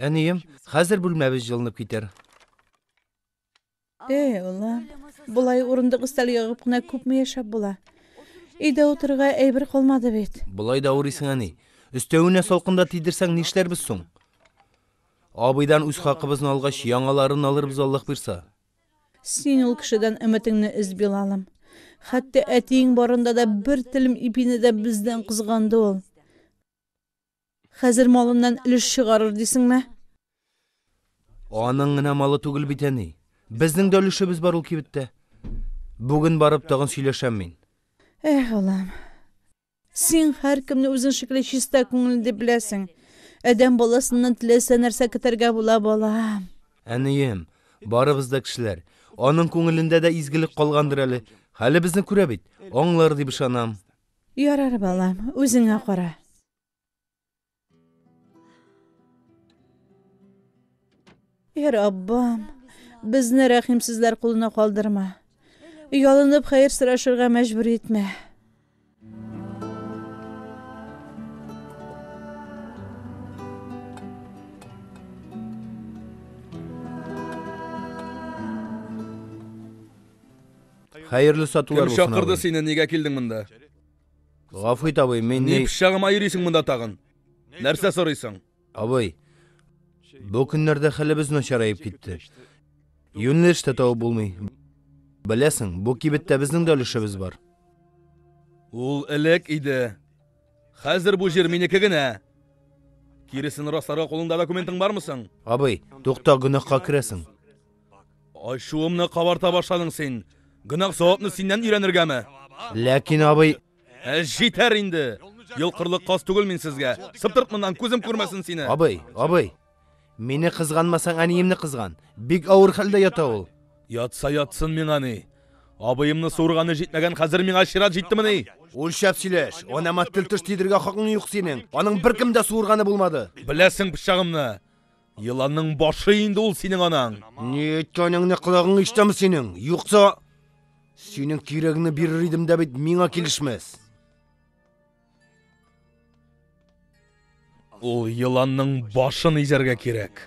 Әнием, хәзер бүлмәбез җылынып китәр. Эй, улым, болай урындык өстәл ягып кына күпме яшәп була? Өйдә утырырга әйбер калмады бит. Болай да авырыйсың, әни. Өстәвенә салкында тидерсәң, нишләрбез соң? Абыйдан үз хакыбызны алгач, яңаларын алырбыз, Аллаһ бирса. Син ул кешедән өметеңне өз, Билалым. Хәтта әтиең барында да бер телем ипине дә бездән кызганды ул. Хәзер малыннан өлеш чыгарыр дисеңме? Аның гына малы түгел бит, әни. Безнең дә өлешебез бар ул кибеттә. Бүген барып тагын сөйләшәм мин. Эх, улым. Син һәркемне үзең шикелле чиста күңелле дип беләсең. Адәм баласыннан теләсә нәрсә көтәргә була, балам. Әнием, барыбыз да кешеләр. Аның күңелендә дә изгелек калгандыр әле. Хәлебезне күрә бит, аңлар дип ышанам. Ярар, балам, үзеңә кара. Я Раббым, безне рәхимсезләр кулына калдырма. Ялынып хәер сорашырга мәҗбүр итмә. Хәерле сатулар булсын. Кем чакырды сине, нигә килдең монда? Гафу ит, абый, мин ни... Ни пычагыма йөрисең монда тагын? Нәрсә сорыйсың? Абый, бу көннәрдә хәлебез начараеп китте. Юнлеш тә табып булмый. Беләсең, бу кибеттә безнең дә өлешебез бар. Ул элек иде. Хәзер бу җир минеке генә. Киресен расларга кулыңда документың бармы соң? Абый, тукта, гөнаһка керәсең. Ачуымны кабарта башладың син. Гөнаһ савапны синнән өйрәнергәме? Ләкин, абый... Ә җитәр инде! Йолкырлык каз түгел мин сезгә. Сыптырт моннан, күзем күрмәсен сине. Абый, абый, мине кызганмасаң, әниемне кызган. Бик авыр хәлдә ята ул. Ятса ятсын миңа ни. Абыемны суырганы җитмәгән, хәзер миңа чират җиттемени? Үлчәп сөйләш. Анама тел-теш тидергә хакың юк синең. Аның беркем дә суырганы булмады. Беләсең пычагымны. Еланның башы инде ул синең анаң. Ни әйткәнеңне колагың ишетәме синең? Юкса синең кирәгеңне бирер идем дә бит миңа килешмәс. Ул еланның башын изәргә кирәк.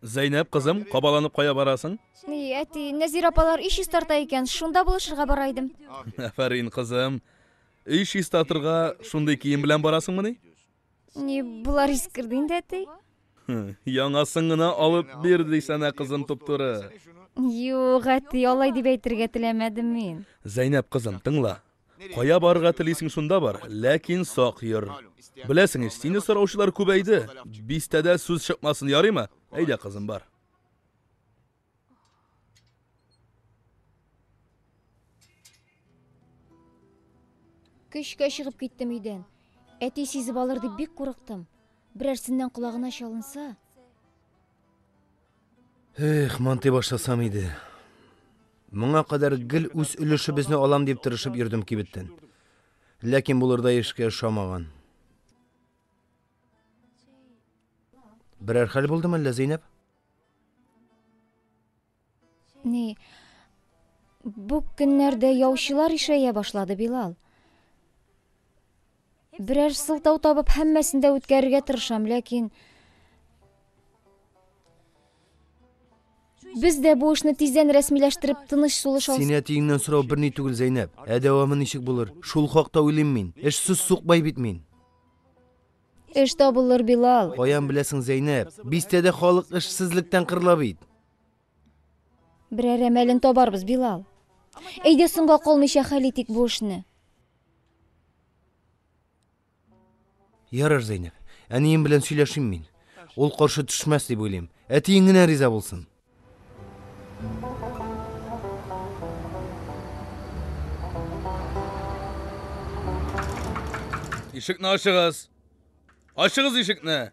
Зәйнәб кызым, кабаланып кая барасың? И, әти, Нәзир апалар өй чистарта икән, шунда булышырга бара идем. Афәрин, кызым. Өй чистартырга шундый кием белән барасыңмыни? Ни, болар искерде инде, әти. Яңасын гына алып бир дисәнә, кызым туптуры. Юк, әти, алай дип әйтергә теләмәдем мин. Зәйнәп кызым, тыңла. Кая барырга телисең, шунда бар, ләкин сак йөр. Беләсең ич, сине сораучылар күбәйде. Бистәдә сүз чыкмасын, ярыймы? Әйдә, кызым, бар. Көчкә чыгып киттем өйдән. Әти сизеп алыр дип бик курыктым. Берәрсеннән колагына чалынса, Эх, монтый башласам иде. Моңа кадәр гел үз өлешебезне алам дип тырышып йөрдем кибеттән. Ләкин булырдай эшкә ошамаган. Берәр хәл булдымы әллә, Зәйнәп? Ни, бу көннәрдә яучылар ишәя башлады, Билал. Берәр сылтау табып, һәммәсен дә үткәрергә тырышам, ләкин Без дә бу эшне тиздән рәсмиләштереп, тыныч сулыш алсак. Сине әтиеңнән сорау берни түгел, Зәйнәп. Ә дәвамы ничек булыр? Шул хакта уйлыйм мин. Эшсез сукбай бит мин. Эш табылыр, Билал. Каян беләсең, Зәйнәп? Бистәдә халык эшсезлектән кырыла бит. Берәр әмәлен табарбыз, Билал. Әйдә соңга калмыйча хәл итик бу эшне. Ярар, Зәйнәп, әнием белән сөйләшим мин. Ул каршы төшмәс дип уйлыйм. Әтиең генә риза булсын. Ишекне ачыгыз. Ачыгыз ишекне.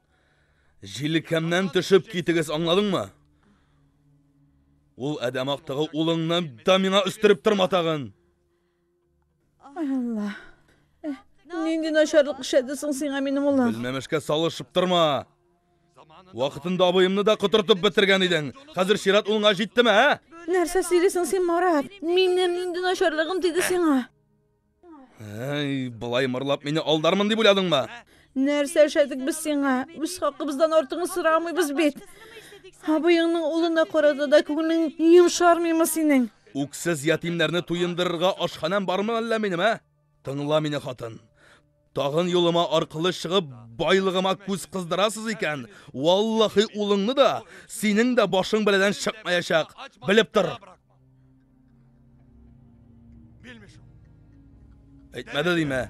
Җилкәмнән төшеп китегез, аңладыңмы? Ул адәм актыгы улыңны да миңа өстереп торма тагын. Ай Алла. Э, нинди начарлык эшләде соң сиңа минем улым? Белмәмешкә салышып торма. Вакытында абыемны да котыртып бетергән идең. Хәзер чират улыңа җиттеме, ә? Нәрсә сөйлисең син, Марат? Минем нинди начарлыгым диде сиңа? Әй, былай мырлап мине алдармын дип уйладыңмы? Нәрсә эшләдек без сиңа? Үз хакыбыздан артыгын сорамыйбыз бит. Абыеңның улына карата да күңелең йомшармыймы синең? Үксез ятимнәрне туендырырга ашханәм бармы әллә минем, ә? Тыңла мине, хатын. Тагын юлыма аркылы чыгып, байлыгыма күз кыздырасыз икән, валлахи улыңны да, синең дә башың бәладән чыкмаячак. Белеп тор. Әйтмәде димә.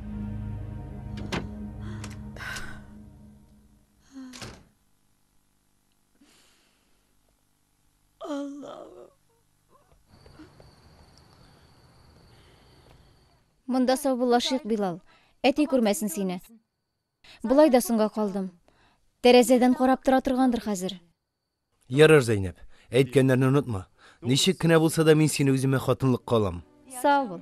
Аллаһым. Монда саубуллашыйк, Билал. Әти күрмәсен сине. Болай да соңга калдым. Тәрәзәдән карап тора торгандыр хәзер. Ярар, Зәйнәп. Әйткәннәрне онытма. Ничек кенә булса да мин сине үземә хатынлыкка алам. Сау бул.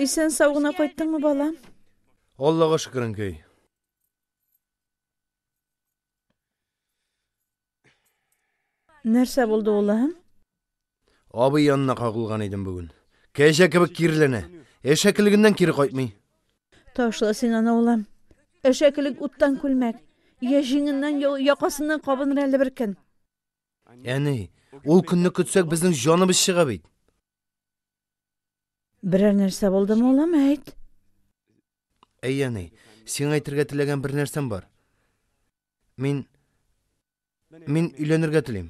Исән сау гына кайттыңмы, балам? Аллага шөкер, әнкәй. Нәрсә булды, улым? Абый янына кагылган идем бүген. Кәҗә кебек кирләнә. Әшәкелегеннән кире кайтмый. Ташла син аны, улым. Әшәкелек уттан күлмәк. Я җиңеннән, я якасыннан кабыныр әле бер көн. Әни, ул көнне көтсәк, безнең җаныбыз чыга бит. Берәр нәрсә булдымы, улым, әйт? Әй, әни, сиңа әйтергә теләгән бер нәрсәм бар. Мин... Мин өйләнергә телим.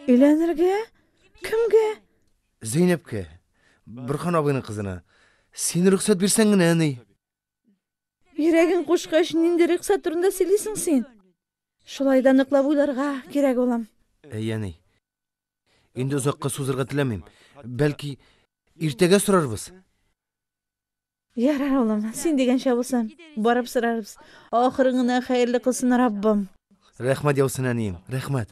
Өйләнергә? Кемгә? Зәйнәпкә. Борхан абыйның кызына. Син рөхсәт бирсәң генә, әни. Йөрәгең кушкач, нинди рөхсәт турында сөйлисең син? Шулай да ныклап уйларга кирәк, улым. Әй, әни. Инде озакка сузырга теләмим. Бәлки, иртәгә сорарбыз? Ярар, улым, син дигәнчә булсын. Барып сорарбыз. Ахырын гына хәерле кылсын Раббым. Рәхмәт яусын, әнием, рәхмәт.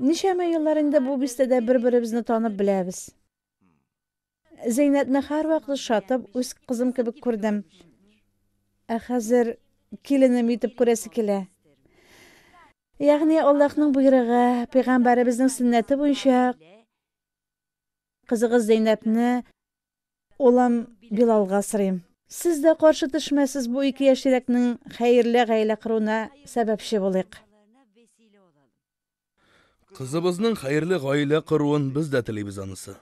Ничәмә еллар инде бу бистәдә бер-беребезне танып беләбез. Зәйнәтне һәрвакыт шатып, үз кызым кебек күрдем. Ә хәзер киленем итеп күрәсе килә. Ягъни Аллаһның боерыгы, пәйгамбәребезнең сөннәте буенча кызыгыз Зәйнәпне Улым Билалга сорыйм. Сез дә каршы төшмәсез бу ике яшьрәкнең хәерле гаилә коруына сәбәпче булыйк. Кызыбызның хәерле гаилә коруын без дә телибез анысы.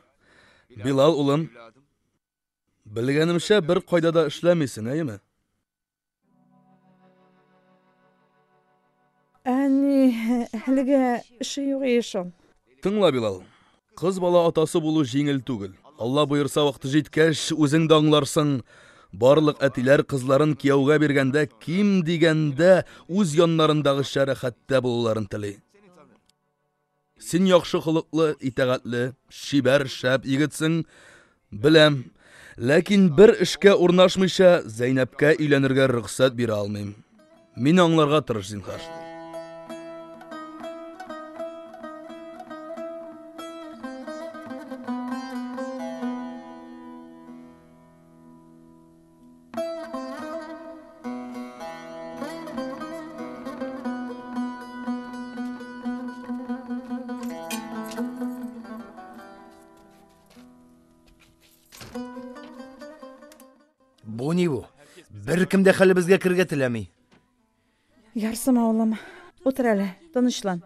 Билал улым, белгәнемчә бер кайда да эшләмисең, әйеме? Әни, әлегә эше юк ие шул. Тыңла, Билал. Кыз бала атасы булу җиңел түгел. Алла боерса, вакыты җиткәч, үзең дә аңларсың. Барлык әтиләр кызларын кияүгә биргәндә, ким дигәндә, үз яннарындагыча рәхәттә булуларын тели. Син яхшы холыклы, итәгатьле, чибәр, шәп егетсең, беләм. Ләкин бер эшкә урнашмыйча, Зәйнәпкә өйләнергә рөхсәт бирә алмыйм. Мин аңларга тырыш, зинхар. Бу ни бу? Беркем дә хәлебезгә кергә теләми. Ярсым авылым. Утыр әле, тынычлан.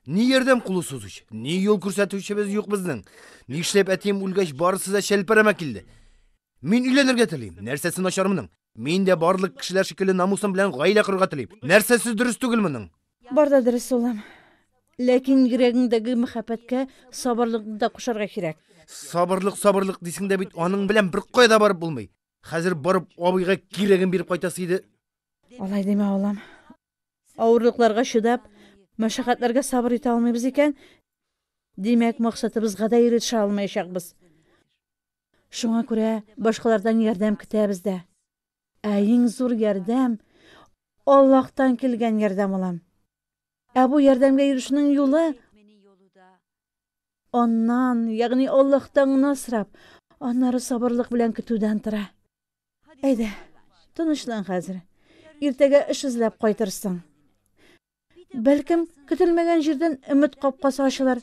Ни ярдәм кулы сузыч, ни юл күрсәтүчебез юк безнең. Нишләп әтием үлгәч барысы да чәлпәрәмә килде. Мин өйләнергә телим. Нәрсәсе начар моның? Мин дә барлык кешеләр шикелле намусым белән гаилә корырга телим. Нәрсәсе дөрес түгел моның? Бар да дөрес, улым. Ләкин йөрәгеңдәге мәхәббәткә сабырлыкны да кушарга кирәк. Сабырлык, сабырлык дисең дә бит, аның белән бер кая да барып булмый. Хәзер барып абыйга кирәген биреп кайтасы иде. Алай димә, улым. Авырлыкларга чыдап, мәшәкатьләргә сабыр итә алмыйбыз икән, димәк, максатыбызга да ирешә алмаячакбыз. Шуңа күрә башкалардан ярдәм көтәбез дә. Ә иң зур ярдәм, Аллаһтан килгән ярдәм алам. Ә бу ярдәмгә ирешүнең юлы, Аннан, ягъни Аллаһтан гына сорап, аннары сабырлык белән көтүдән тора. Әйдә, тынычлан хәзер. Иртәгә эш эзләп кайтырсың. Бәлкем, көтелмәгән җирдән өмет капкасы ачылыр.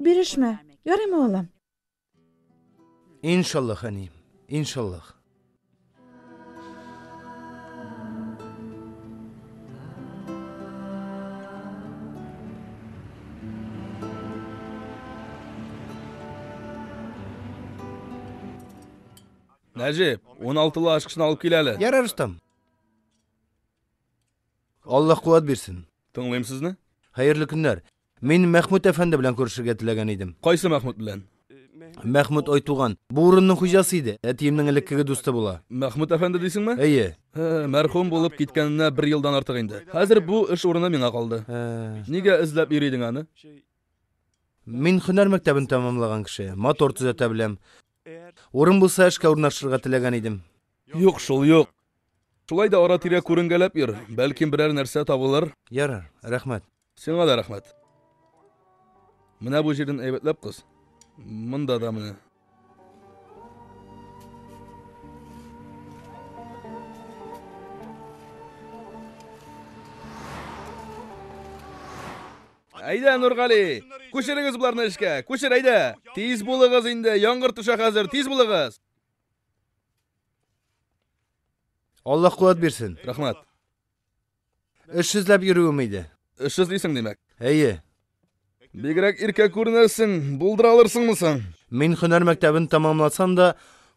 Бирешмә, ярыймы, улым? Иншаллах, әни, иншаллах. Нәҗип, 16-лы ашкышны алып кил әле. Ярар, остам. Аллаһ куәт бирсен. Тыңлыйм сезне. Хәерле көннәр. Мин Мәхмүт әфәнде белән күрешергә теләгән идем. Кайсы Мәхмүт белән? Мәхмүт Айтуган. Бу урынның хуҗасы иде. Әтиемнең элеккеге дусты була. Мәхмүт әфәнде дисеңме? Әйе. Һе, мәрхүм булып киткәненә бер елдан артык инде. Хәзер бу эш урыны миңа калды. Һе. Нигә эзләп йөри идең аны? Мин һөнәр мәктәбен тәмамлаган кеше. Мотор төзәтә беләм. Урын булса, эшкә урнашырга теләгән идем. Юк шул, юк. Шулай да ара-тирә күренгәләп йөр, бәлкем берәр нәрсә табылыр. Ярар, рәхмәт. Сиңа да рәхмәт. Менә бу җирен әйбәтләп кыз. Монда да менә. Әйдә, Нургали, күчерегез боларны эшкә, күчер, әйдә. Тиз булыгыз инде, яңгыр төшә хәзер, тиз булыгыз. Аллаһ куәт бирсен. Рәхмәт. Эшсезләп йөрүем иде. Эшсез дисең, димәк? Әйе. Бигрәк иркә күренәсең, булдыра алырсыңмы соң? Мин һөнәр мәктәбен тәмамласам да,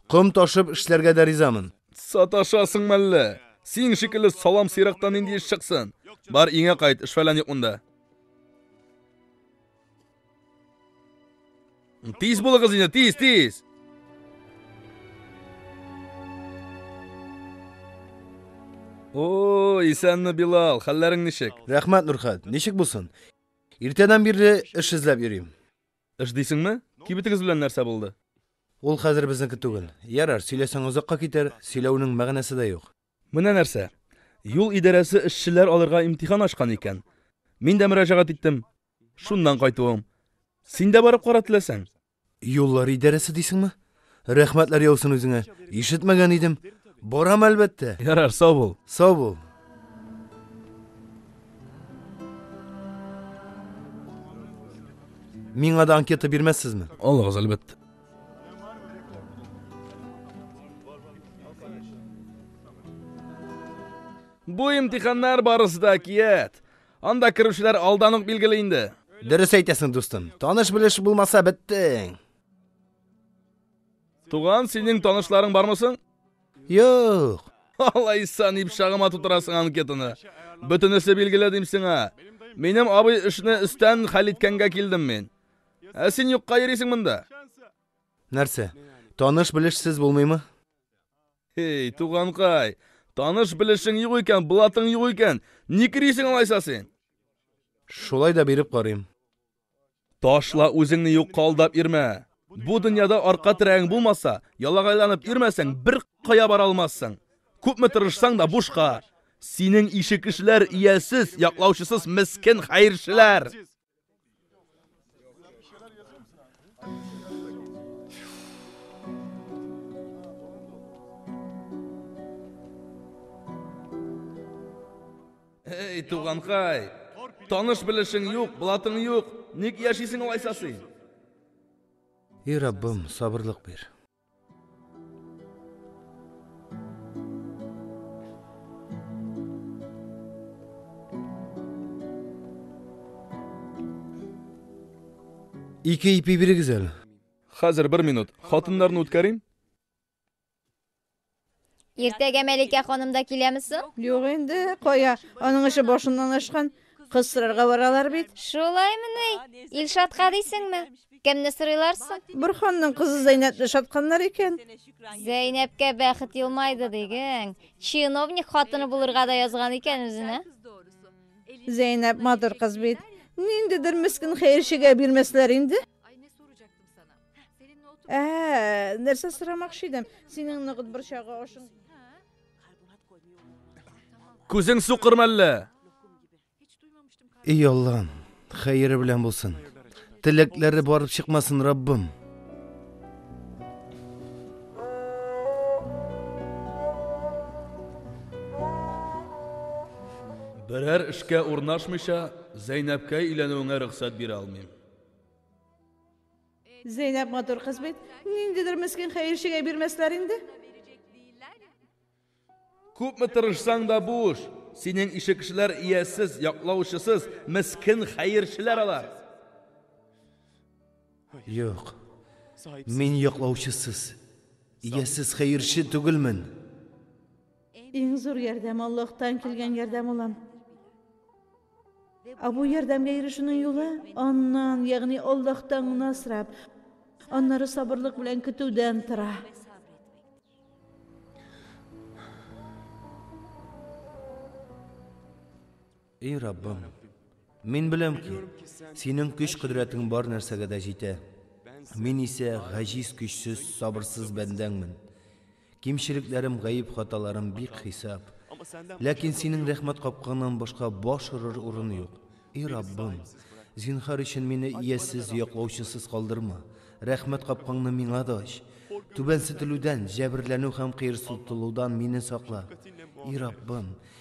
ком ташып эшләргә дә ризамын. Саташасың мәллә? Син шикелле салам сыйрактан нинди эш чыксын? Бар, өеңә кайт, эш-фәлән юк монда. Тиз булыгыз инде, тиз, тиз. О, исәнме, Билал, хәлләрең ничек? Рәхмәт, Нурхат. Ничек булсын? Иртәдән бирле эш эзләп йөрим. Эш дисеңме? Кибетегез белән нәрсә булды? Ул хәзер безнеке түгел. Ярар, сөйләсәң озакка китәр, сөйләүнең мәгънәсе дә юк. Менә нәрсә, юл идарәсе эшчеләр алырга имтихан ачкан икән. Мин дә мөрәҗәгать иттем. Шуннан кайтуым. Син дә барып кара теләсәң. Юллар идарәсе дисеңме? Рәхмәтләр яусын үзеңә. Ишетмәгән идем. Барам, әлбәттә. Ярар, сау бул. Сау бул. Миңа да анкета бирмәссезме? Алыгыз, әлбәттә. Бу имтиханнар барысы да кият. Анда керүчеләр алдан ук билгеле инде. Дөрес әйтәсең, дустым. Таныш белеш булмаса беттең. Туган, синең танышларың бармы соң? Юк. Алайса ни пычагыма тутырасың анкетаны. Бөтенесе билгеле дим сиңа. Минем абый эшне өстән хәл иткәнгә килдем мин. Ә син юкка йөрисең монда. Нәрсә, таныш-белешсез булмыймы? Эй, туганкай, таныш-белешең юк икән, блатың юк икән, ник йөрисең алайса син? Шулай да биреп карыйм. Ташла үзеңне юкка алдап йөрмә. Бу дөньяда арка терәгең булмаса, ялагайланып йөрмәсәң, бер кая бара алмассың. Күпме тырышсаң да бушка. Синең ише кешеләр, иясез, яклаучысыз мескен хәерчеләр. Эй, туганкай, таныш белешең юк, блатың юк, ник яшисең алайса син? И Раббым, сабырлык бир. Ике ипи бирегез әле. Хәзер бер минут. Хатыннарны үткәрим. Иртәгә Мәликә ханым да киләме соң? Юк инде, кая, аның эше башыннан ашкан. Кыз сорарга баралар бит. Шулаймы ни? Илшатка дисеңме? Кемне сорыйлар соң? Борханның кызы Зәйнәпне шатканнар икән. Зәйнәпкә бәхет елмайды диген. Чиновник хатыны булырга да язган икән үзенә. Зәйнәп матур кыз бит. Ниндидер мескен хәерчегә бирмәсләр инде. Ә, нәрсә сорамакчы идем? Синең ныгыт борчагы ашың. Күзең сукыр мәллә? Эй Аллам, хәере белән булсын. Теләкләре барып чыкмасын, Раббым. Берәр эшкә урнашмыйча, Зәйнәпкә өйләнүеңә рөхсәт бирә алмыйм. Зәйнәб матур кыз бит. Ниндидер мескен хәерчегә бирмәсләр инде. Күпме тырышсаң да буш. Синең ише кешеләр иясез, яклаучысыз, мескен хәерчеләр алар. Юк. Мин яклаучысыз, иясез хәерче түгелмен. Иң зур ярдәм Аллаһтан килгән ярдәм улым. Ә бу ярдәмгә ирешүнең юлы аннан, ягъни Аллаһтан гына сорап, аннары сабырлык белән көтүдән тора. Эй Раббым, мин беләм ки, синең көч-кодрәтең бар нәрсәгә дә җитә. Мин исә гаҗиз, көчсез, сабырсыз бәндәңмен. Кимчелекләрем, гаеп хаталарым бик хисап. Ләкин синең рәхмәт капкаңнан башка баш орыр урын юк. И Раббым, зинхар өчен мине иясез, яклаучысыз калдырма. Рәхмәт капкаңны миңа да ач. Түбәнсетелүдән, җәберләнү һәм кыерсытылудан мине сакла. И Раббым,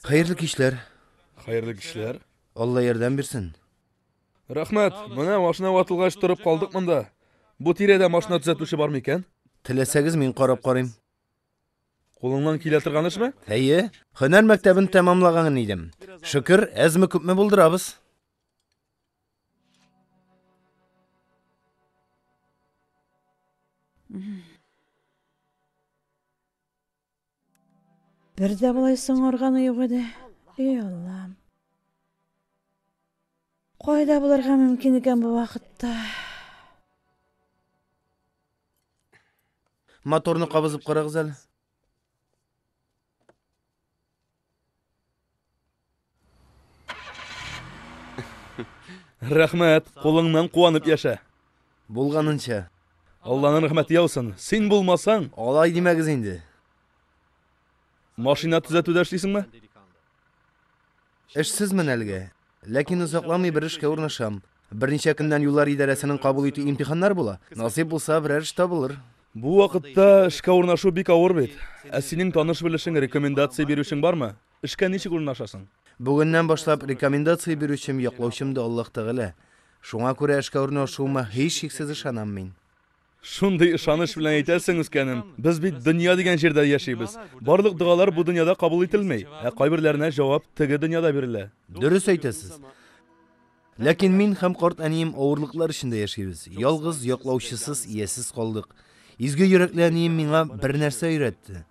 Хәерле кичләр. Хәерле кичләр. Алла ярдәм бирсен. Рәхмәт. Менә машина ватылгач торып калдык монда. Бу тирәдә машина төзәтүче бар микән? Теләсәгез, мин карап карыйм. Кулыңнан килә торган эшме? Әйе, һөнәр мәктәбен тәмамлаган идем. Шөкер, әзме күпме булдырабыз. Бер дә болай соңарганы юк иде. Эй Аллам. Кайда булырга мөмкин икән бу вакытта? Моторны кабызып карагыз әле. Рәхмәт, кулыңнан куанып яшә. Булганынча. Алланың рәхмәте яусын. Син булмасаң, алай димәгез инде. Машина төзәтүдә эшлисеңме? Эшсезмен әлегә. Ләкин озакламый бер эшкә урнашам. Берничә көннән юллар идарәсенең кабул итү имтиханнары була. Насыйп булса, берәр эш табылыр. Бу вакытта эшкә урнашу бик авыр бит. Ә синең таныш-белешең, рекомендация бирүчең бармы? Эшкә ничек урнашасың? Бүгеннән башлап рекомендация бирүчем, яклаучым да Аллаһ Тәгалә. Шуңа күрә эшкә урнашуыма һичшиксез ышанам мин. Шундый ышаныч белән әйтәсең, үскәнем. Без бит дөнья дигән җирдә яшибез. Барлык догалар бу дөньяда кабул ителми, ә кайберләренә җавап теге дөньяда бирелә. Дөрес әйтәсез. Ләкин мин һәм карт әнием авырлыклар эчендә яшибез. Ялгыз, яклаучысыз, иясез калдык. Изге йөрәкле әнием миңа бер нәрсә өйрәтте.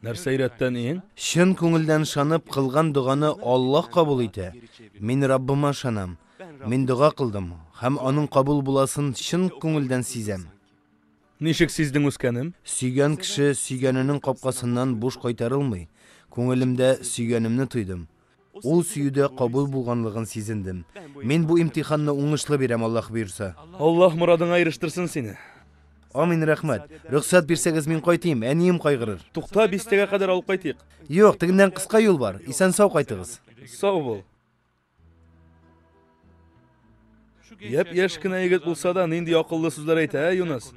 Нәрсә өйрәттен иң? Чын күңелдән ышанып кылган доганы Аллаһ кабул итә. Мин Раббыма ышанам. Мин дога кылдым һәм аның кабул буласын чын күңелдән сизәм. Ничек сиздең үскәнем? Сөйгән кеше сөйгәненең капкасыннан буш кайтарылмый. Күңелемдә сөйгәнемне тойдым. Ул сөюдә кабул булганлыгын сизендем. Мин бу имтиханны уңышлы бирәм, Аллаһ боерса. Аллаһ морадыңа ирештерсен сине. Амин, рәхмәт. Рөхсәт бирсәгез, мин кайтыйм, әнием кайгырыр. Тукта, бистәгә кадәр алып кайтыйк. Юк, тегеннән кыска юл бар. Исән-сау кайтыгыз. Сау бул. Япь-яшь кенә егет булса да, нинди акыллы сүзләр әйтә, ә, Юныс?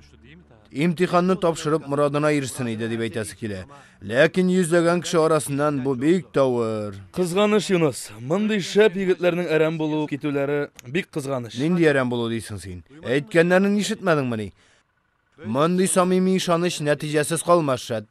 Имтиханны тапшырып, морадына ирешсен иде, дип әйтәсе килә. Ләкин йөзләгән кеше арасыннан бу бик тавыр. Кызганыч, Юныс. Мондый шәп егетләрнең әрәм булу, китүләре бик кызганыч. Нинди әрәм булу дисең син? Әйткәннәрен ишетмәдеңмени? Мондый самими ышаныч нәтиҗәсез калмас, шәт.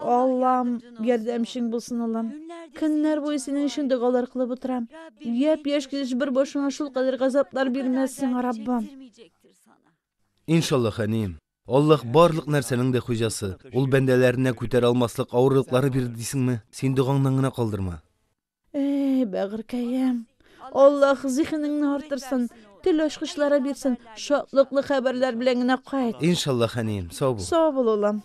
Аллам, ярдәмчең булсын, Аллам. Көннәр буе синең өчен догалар кылып утырам. Яп яшь килеш бер башыңа шул кадәр газаплар бирмәс сиңа, Раббым. Иншаллах, әни. Аллах барлык нәрсәнең дә хуҗасы. Ул бәндәләренә күтәрә алмаслык авырлыклары бирде дисеңме? Син догаңнан гына калдырма. Эй, бәгырькәем, Аллаһ зиһенеңне артырсын, тел ачкычлары бирсен, шатлыклы хәбәрләр белән генә кайт. Иншаллаһ, әнием, сау бул. Сау бул, улым.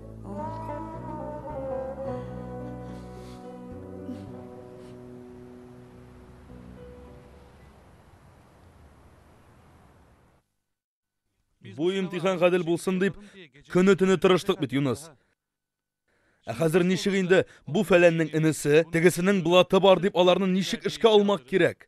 Бу имтихан гадел булсын дип, көне-төне тырыштык бит, Юныс. Ә хәзер ничек инде бу фәләннең энесе, тегесенең блаты бар дип аларны ничек эшкә алмак кирәк?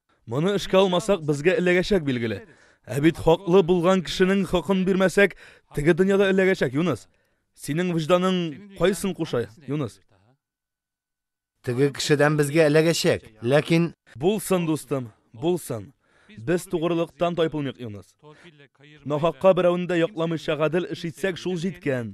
Моны эшкә алмасак, безгә эләгәчәк, билгеле. Ә бит хаклы булган кешенең хакын бирмәсәк, теге дөньяда эләгәчәк, Юныс. Синең вөҗданың кайсын куша, Юныс? Теге кешедән безгә эләгәчәк, ләкин... Булсын, дустым, булсын. Без тугрылыктан тайпылмыйк, Юныс. Нахакка берәүне дә якламыйча гадел эш итсәк, шул җиткән.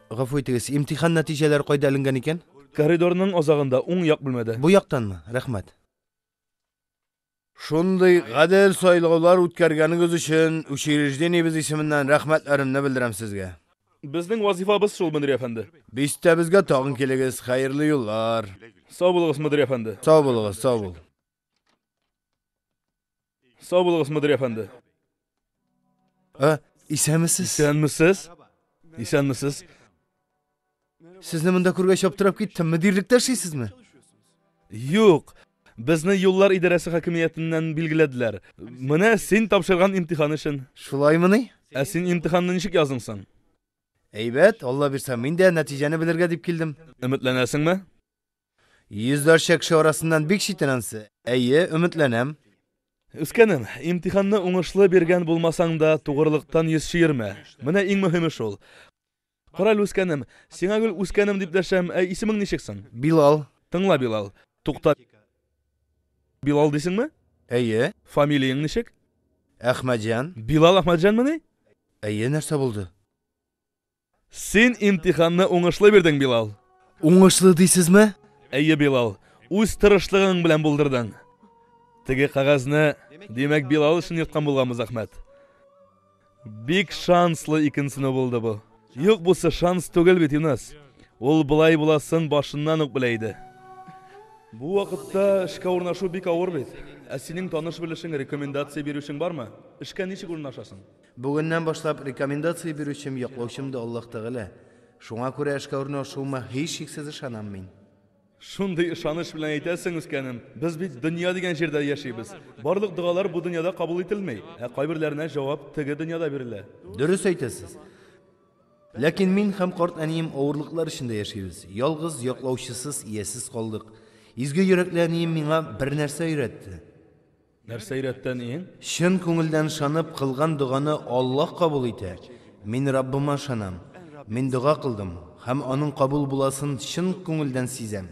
Гафу итегез, имтихан нәтиҗәләре кайда эленгән икән? Коридорның азагында, уң як бүлмәдә. Бу яктанмы? Рәхмәт. Шундый гадел сайлаулар үткәргәнегез өчен учреждениебез исеменнән рәхмәтләремне белдерәм сезгә. Безнең вазифабыз шул, мөдир әфәнде. Бистәбезгә тагын килегез. Хәерле юллар! Сау булыгыз, мөдир әфәнде! Сау булыгыз, сау бул. Сау булыгыз, мөдир әфәнде. Ә, исәнмесез? Исәнмесез? Исәнмесез? Сезне монда күргәч аптырап киттем. Мөдирлектә эшлисезме? Юк. Безне юллар идарәсе хакимиятеннән билгеләделәр. Менә син тапшырган имтихан өчен. Шулаймыни? Ә син имтиханны ничек яздың соң? Әйбәт, Алла бирсә, мин дә нәтиҗәне белергә дип килдем. Өметләнәсеңме? Йөзләрчә кеше арасыннан бик читенәнсе? Әйе, өметләнәм. Үскәнем, имтиханны уңышлы биргән булмасаң да, тугрылыктан йөз чөермә. Менә иң мөһиме шул. Карале, үскәнем, сиңа гел үскәнем дип дәшәм, ә исемең ничек соң? Билал. Тыңла, Билал. Тукта. Билал дисеңме? Әйе. Фамилияң ничек? Әхмәтҗан. Билал Әхмәтҗанмыни? Әйе, нәрсә булды? Син имтиханны уңышлы бирдең, Билал. Уңышлы дисезме? Әйе, Билал. Үз тырышлыгың белән булдырдың. Теге кагазьне, димәк, Билал өчен йөрткән булганбыз, Әхмәт. Бик шанслы икенсене булды бу. Юк, бусы шанс түгел бит, Юнас. Ул былай буласын башыннан ук белә иде. Бу вакытта эшкә урнашу бик авыр бит. Ә синең таныш-белешең, рекомендация бирүчең бармы? Эшкә ничек урнашасың? Бүгеннән башлап рекомендация бирүчем, яклаучым да Аллаһ Тәгалә. Шуңа күрә эшкә урнашуыма һичшиксез ышанам мин. Шундый ышаныч белән әйтәсең, үскәнем. Без бит дөнья дигән җирдә яшибез. Барлык догалар бу дөньяда кабул ителми, ә кайберләренә җавап теге дөньяда бирелә. Дөрес әйтәсез. Ләкин мин һәм карт әнием авырлыклар эчендә яшибез. Ялгыз, яклаучысыз, иясез калдык. Изге йөрәкле әнием миңа бернәрсә өйрәтте. Нәрсә өйрәтте әниең? Чын күңелдән шанып кылган доганы Аллаһ кабул итә. Мин Раббыма шанам. Мин дога кылдым һәм аның кабул буласын чын күңелдән сизәм.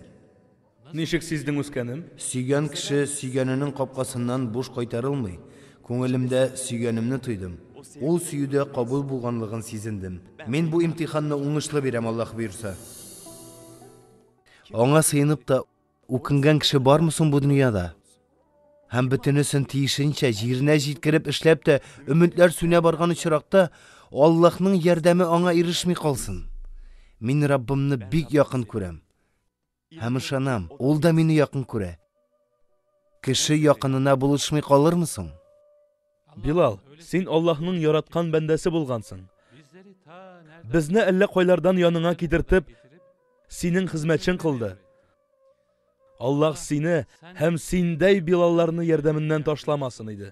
Ничек сиздең үскәнем? Сөйгән кеше сөйгәненең капкасыннан буш кайтарылмый. Күңелемдә сөйгәнемне тойдым. Ул сөюдә кабул булганлыгын сизендем. Мин бу имтиханны уңышлы бирәм, Аллаһ боерса. Аңа сыенып та Үкенгән кеше бармы соң бу дөньяда? Һәм бөтенесен тиешенчә җиренә җиткереп эшләп тә өметләр сүнә барган очракта Аллаһның ярдәме аңа ирешми калсын. Мин Раббымны бик якын күрәм. Һәм ышанам, ул да мине якын күрә. Кеше якынына булышмый калырмы соң? Билал, син Аллаһның яраткан бәндәсе булгансың. Безне әллә кайлардан яныңа китертеп, синең хезмәтчең кылды. Аллаһ сине һәм синдәй Билалларны ярдәменнән ташламасын иде.